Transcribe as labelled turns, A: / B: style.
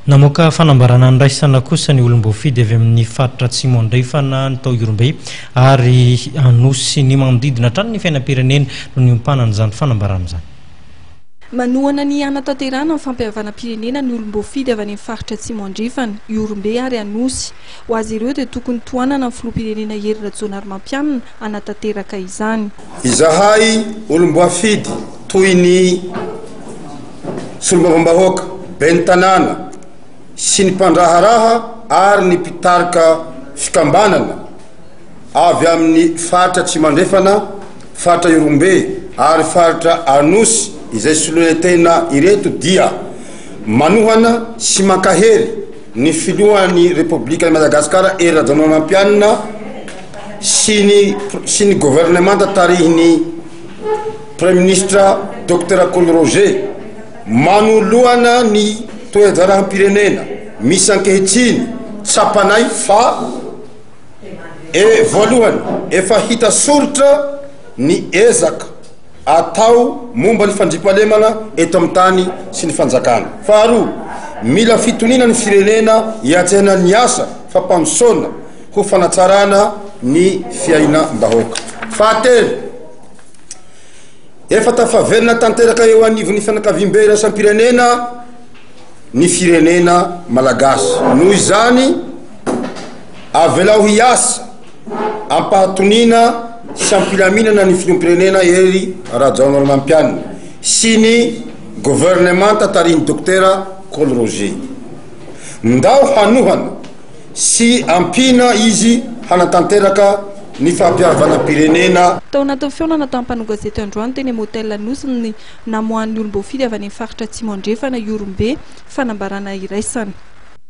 A: Namoaka fanambarana andraisana kosa ny olom-boafidy avy amin'ny faritra Atsimo Andrefana, ny tao Ihorombe ary Anosy sy ny manodidina hatrany ny fiainam-pirenena no niompanana izany fanambarana izany. Manohana
B: ny hanatanterahana ny fampihavanam-pirenena ny olom-boafidy avy any amin'ny faritra Atsimo Andrefana, Ihorombe ary Anosy. Ho azy ireo dia tokony tohanana ny filoham-pirenena Hery Rajaonarimampianina hanatanteraka izany. Izahay
C: olom-boafidy toy ny Solombavambahoaka, Ben'ny Tanàna sy ny mpandraharaha ary ny mpitarika fikambanana avy amin'ny faritra Atsimo Andrefana, faritra Ihorombe ary faritra Anosy izay soloina tena ireto dia manohana sy mankahery Ny filohan'ny Repoblikan'i Madagasikara Hery Rajaonarimampianina sy ny sy ny governemanta tarihin'ny Praiminisitra Docteur Kolo Roger manoloana ny toe-draharahampirenena misy ankehitriny tsapanay fa e voalohany efa hita soritra ny ezaka atao momba ny fandriampahalemana eto amin'ny tany sy ny fanjakana. Faharoa, mila fitoniana ny firenena hiantsehana ny asa fampandrosoana ho fanatsarana ny fiainam-bahoaka. Fahatelo, efa tafaverina tanteraka eo anivon'ny fianakaviambe iraisam-pirenena ny firenena malagasy. Noho izany, avelao hiasa. Ampahatoniana sy ampilaminana ny Filoham-pirenena Hery Rajaonarimampianina sy ny Governemanta tarihin'ny Dokotera Col Roger Ndao hanohana sy ampiana izy hanatanteraka ny fahapiarvanam-pirenena Tao anatin'ny fihaonana
B: tamin'ny mpanao gazety androany teny amin'ny Hotel Anosy ny namoahan'ny olom-boafidy avy any amin'ny faritra Atsimo Andrefana Ihorombe fanambarana iraisana.